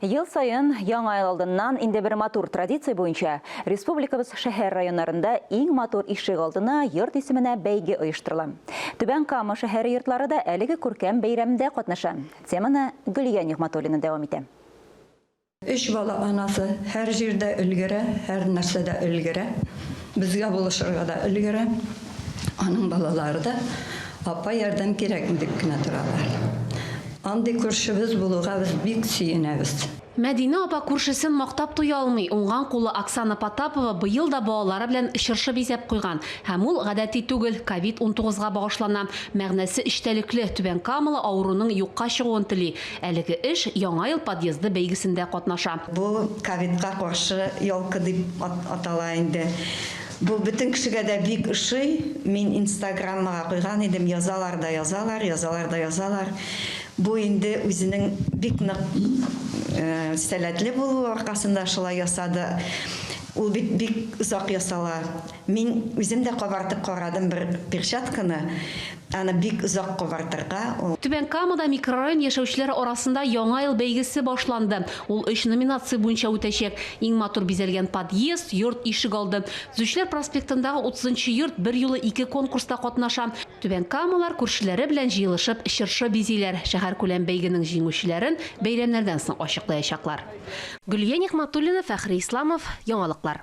Ел саен, Яңа ел алдыннан, инде бер матур традиция буенча, республикабыз шәһәр-районнарында иң матур ишегалдына, йорт исеменә бәйге оештырыла. Түбән Кама шәһәре йортлары да әлеге күркәм бәйрәмдә катнаша. Теманы Гөлия Нигъмәтуллина дәвам итә. Өч бала анасы, һәр җирдә өлгерә, һәрнәрсәдә өлгерә, безгә булышырга да өлгерә. Аның балалары да апа ярдәм кирәкми дип кенә торалар. Андый күршебез булуга без бик сөенәбез. Мәдинә апа күршесен мактап туя алмый, уңган кулы Оксана Потапова быел да балалары белән чыршы бизәп куйган, һәм ул гадәти түгел, ковид унтугыз га багышлана, мәгънәсе эчтәлекле, Түбән Камалы авыруның юкка чыгуын тели, әлеге эш Яңа ел подъезды бәйгесендә катнаша. Бу ковидка каршы ялка дип атала инде. Бу бөтен кешегә дә бик ошый, мин инстаграммага куйган идем, язалар да язалар, язалар да язалар. Бу инде үзенең бик нык сәләтле булуы аркасында шулай ясады. Ул бит бик озак ясала. Мин үзем дә кабартып карадым бер перчатканы, Аны бик озак кабартырга, ул. Түбән Камада микрорайон яшәүчеләре арасында Яңа ел бәйгесе башланды. Ул өч номинация буенча үтәчәк, Иң матур бизәлгән подъезд, йорт ишегалды. Төзүчеләр проспектындагы утызынчы йорт берьюлы ике конкурста катнаша. Түбәнкамалар күршеләре белән җыелышып чыршы бизиләр, шәһәркүләм бәйгенең җиңүчеләрен бәйрәмнәрдән соң ачыклаячаклар. Гөлия Нигъмәтуллина, Фәхри Исламов, Яңалыклар.